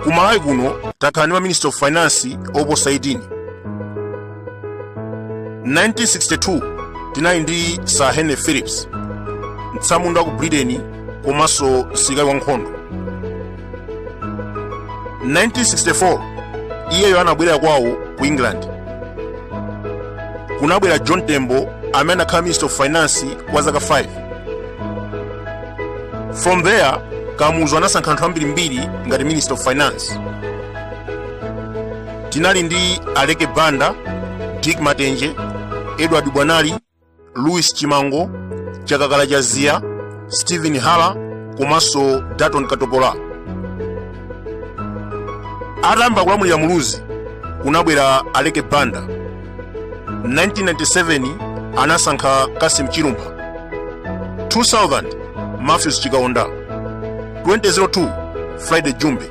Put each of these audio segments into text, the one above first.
ku malawi kuno takhala ndi maminister of finance oposa 18 1962 tinali ndi sir henry phillips mtsamunda wa ku britain komanso msilikali wankhondo 1964 iyeyo anabwerera kwawo ku england kunabwera john tembo amene anakhala minister of finance kwa zaka 5 from there kamuzu anasankha anthu ambirimbiri ngati minister of finance tinali ndi aleke banda dick matenje edward bwanali louis chimango chakakala chaziya stephen hara komanso dalton katopola atayamba kulamulira muluzi kunabwera aleke banda 1997 anasankha cassim chilumpha 2000 matthews chikaonda 2002 friday jumbe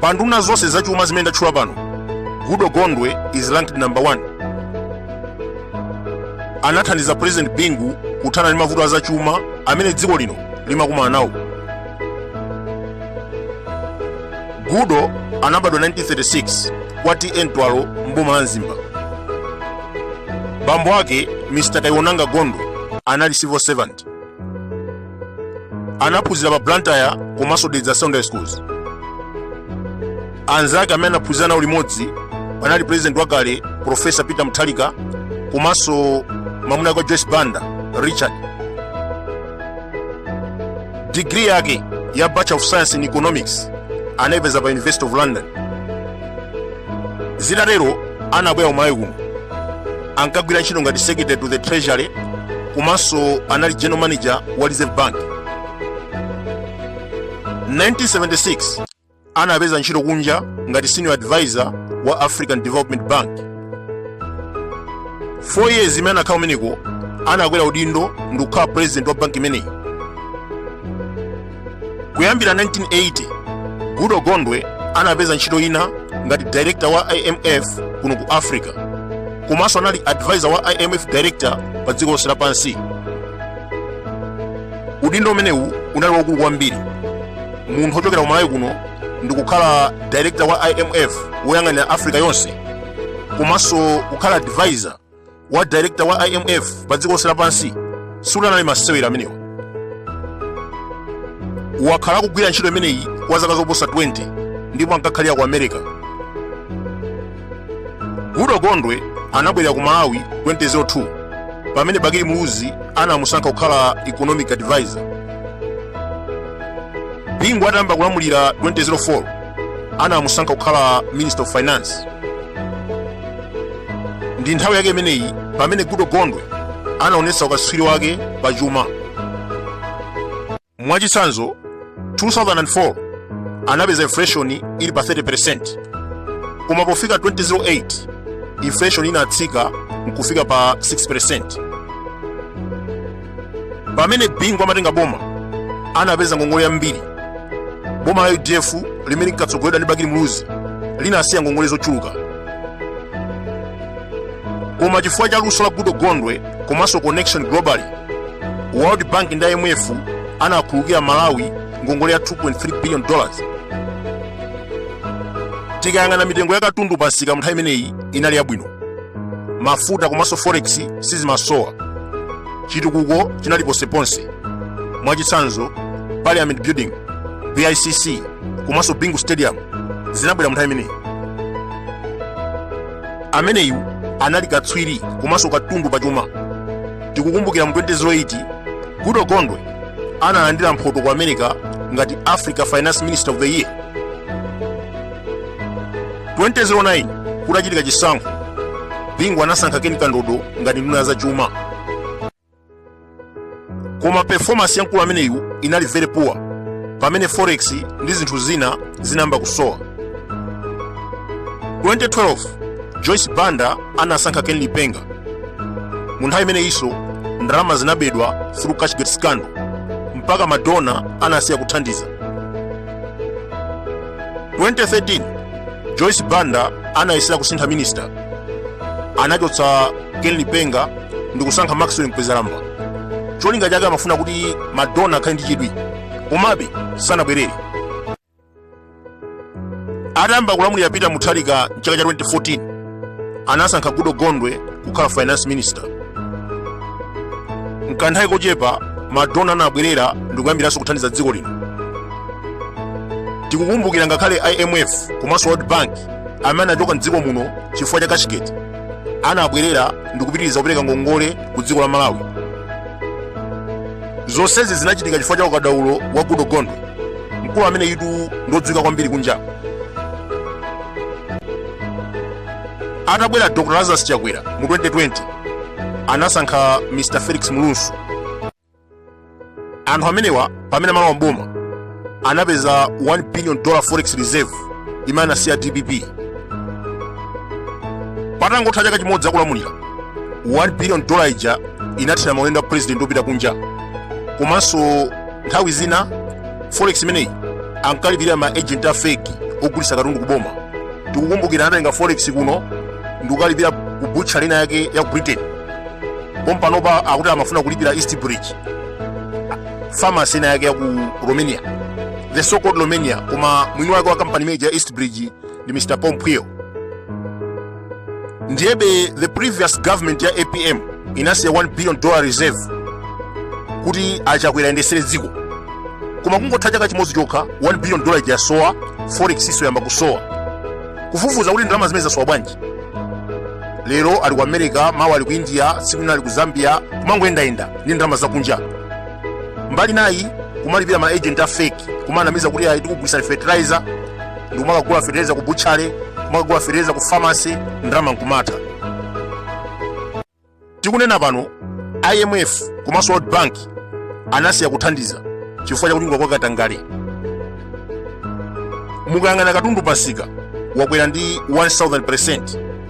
pa nduna zonse zachuma zimene ndatchula pano goodall gondwe is ranked number 1 anathandiza president bingu kuthana ndi mavuto azachuma amene dziko lino limakumana nawo goodall anabadwa 1936 kwa ta mtwalo mboma la mzimba bambo ake mr kayiwonanga gondwe anali civil servant anaphunzira pa blantyre komanso dedza secondary schools anzake amene anaphunzira nawo limodzi panali president wakale profesa peter mutharika komanso mwamuna wake wa joyce banda richard digiri yake ya bachelor of science in economics anaipeza pa university of london zitatero anabwera ku malawi kuno ankagwira ntchito ngati secretary to the treasury komanso anali general manager wa reserve bank 1976 anapeza ntchito kunja ngati senior advisor wa african development bank 4 years imene anakhala kumeneko anakwera udindo ndikukhala president wa banki imeneyi kuyambira 1980 goodall gondwe anapeza ntchito ina ngati director wa imf kuno ku africa komanso anali advisor wa imf director pa dziko lonse lapansi udindo umenewu unali waukulu kwambiri munthu wochokera ku malawi kuno ndikukhala director wa imf woyang'anira africa yonse komanso kukhala advisor wa director wa imf pa dziko lonse lapansi sikuti anali masewera amenewa wakhala akugwira ntchito imeneyi kwa zaka zoposa 20 ndipo ankakhalira ku america goodall gondwe anabwerera ku malawi 2002 pamene bakili muluzi anamusankha kukhala economic advisor bingu atayamba kulamulira 2004 anamusankha kukhala minister of finance ndi nthawi yake imeneyi pamene goodall gondwe anaonetsa ukatswiri wake pa chuma mwachitsanzo 2004 anapeza inflation ili pa 30% koma pofika 2008 inflation inatsika nkufika pa 6% pamene bingu amatenga boma anapeza ngongole yambiri boma la udf limene linkatsogoledwa ndi bakili muluzi linasiya ngongole zochuluka koma chifukwa cha luso la goodall gondwe komanso connection globally world bank ndi imf anakhululukira malawi ngongole ya 2.3 billion dollars tikayang'ana mitengo ya katundu pansika mu nthawi imeneyi inali yabwino mafuta komanso forex sizimasowa chitukuko chinali ponseponse mwachitsanzo parliament building bicc komanso bingu stadium zinabwera munthawi imeneyi ameneyu anali katswiri komanso katundu pachuma tikukumbukira mu 2008 goodall gondwe analandira mphoto ku america ngati africa finance minister of the year 2009 kutachitika chisankho bingu anasankha ken kandodo ngati nduna ya za chuma koma performance ya mkulu ameneyu inali very poor pamene forex ndi zinthu zina zinayamba kusowa 2012 joyce banda anasankha ken lipenga mu nthawi imeneyinso ndalama zinabedwa through cashgate scandal mpaka madona anasiya kuthandiza 2013 joyce banda anayesera kusintha minista anachotsa ken lipenga ndi kusankha maxwell mkwezalamba cholinga chake amafuna kuti madona akhale ndi chidwi komabe sanabwerere atayamba kulamulira peter mutharika mchaka cha 2014 anasankha goodall gondwe kukhala finance minister mkanthawi kochepa madona anabwerera ndikuyambiranso kuthandiza dziko lino tikukumbukira ngakhale imf komanso world bank amene anachoka mdziko muno chifukwa cha cashgate anabwerera ndikupitiriza kupereka ngongole ku dziko la malawi zonsezi zinachitika chifukwa cha ukadaulo wa goodall gondwe mkulu ameneyutu ndodziwika kwambiri kunja atabwera dr lazarus chakwera mu 2020 anasankha mr felix mlusu anthu amenewa pamene amalowa mboma anapeza 1 billion dollar forex reserve imene anasiya dpp patangotha chaka chimodzi akulamulira 1 billion dollar ija inathera maulendo a president opita kunja komanso nthawi zina forex imeneyi ankalipira ma agent a fake ogulitsa katundu ku boma tikukumbukira anatenga forex kuno ndikukalipira ku butcha lina yake ya ku britain pompanopa akuti amafuna kulipira east bridge pharmacy ina yake ya ku romania the so called romania koma mwini wake wa kampani imeneyi ya east bridge ndi mr pompweo ndiyebe the previous government ya apm inasiya 1 billion dollar reserve kuti achakwera ayendesere dziko koma kungotha chaka chimodzi chokha 1 billion dollar ija yasowa forex iso yayamba kusowa kufufuza kuti ndalama zimene zasowa bwanji lero ali ku america mawa ali ku india tsiku lina ali ku zambia kumangoyendayenda ndi ndalama zakunja mbali inayi kumalipira ma agent a fake kumanamiza kuti ayi tikugulitsani fertilizer ndikumakagula fetereza ku butchale kumakagula fetereza ku famasi ndalama nkumatha tikunena pano imf komanso world bank anasiya kuthandiza chifukwa cha kubedwa kwa katangale mukayang'ana katundu pamsika wakwera ndi 100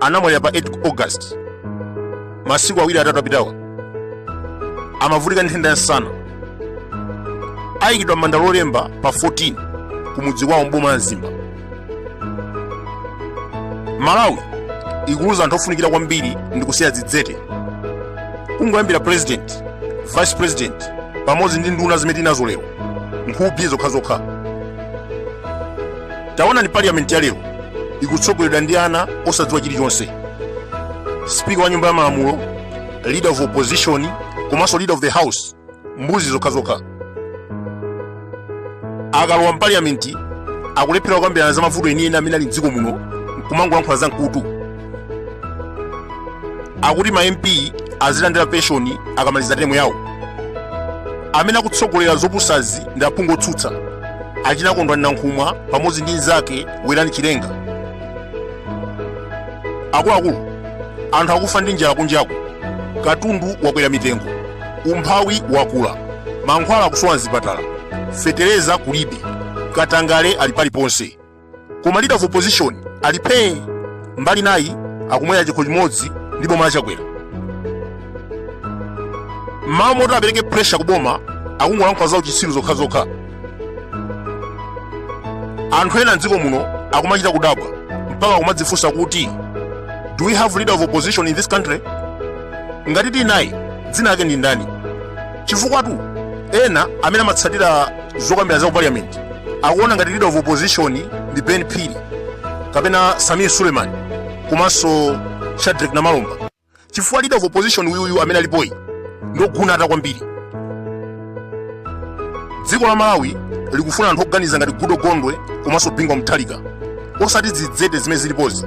anamwalira pa 8 august masiku awiri atatu apitawa amavutika ndi nthenda ya nsana ayikidwa m'manda lolemba pa 14 ku mudzi kwawo mboma la mzimba malawi ikuluza anthu ofunikira kwambiri ndi kusiya dzidzete kungoyambira president vice president pamodzi ndi nduna zimene tinazo lero nkhukhi zokhazokha Taonani parliament ya lero ikutsogoledwa ndi ana osadziwa chilichonse. Speaker wa nyumba ya malamulo, leader of opposition, komanso leader of the house, mbuzi zokhazokha. Akalowa mparliament akulephera kukambirana za mavuto enieni amene ali mdziko muno nkumangolankhula za mkutu. akuti ma mp azilandira penshoni akamaliza temu yawo amene akutsogolera zopusazi ndi aphungu otsutsa achina kondwani nankhumwa pamodzi ndi mnzake werani chilenga akuluakulu anthu akufa ndi njala kunjaku katundu wakwera mitengo umphawi wakula mankhwala akusowa mzipatala fetereza kulibe katangale ali paliponse koma leader of opposition ali phee mbali naye akumwera chikho chimodzi ndi boma la chakwera mmalo moti apereke pressure ku boma akungolankhula za uchitsiru zokhazokha anthu ena mdziko muno akumachita kudabwa mpaka akumadzifunsa kuti do we have leader of opposition in this country ngati tili naye dzina lake ndi ndani chifukwatu ena amene amatsatira zokambirana za ku parliament akuona ngati leader of opposition ndi ben phiri kapena samir suleiman komanso shadric namalomba chifukwa leader of opposition uyuyu amene alipoyi ndogunata kwambiri dziko la malawi likufuna anthu oganiza ngati goodall gondwe komanso bingu wa mutharika osati zidzete zimene zilipozi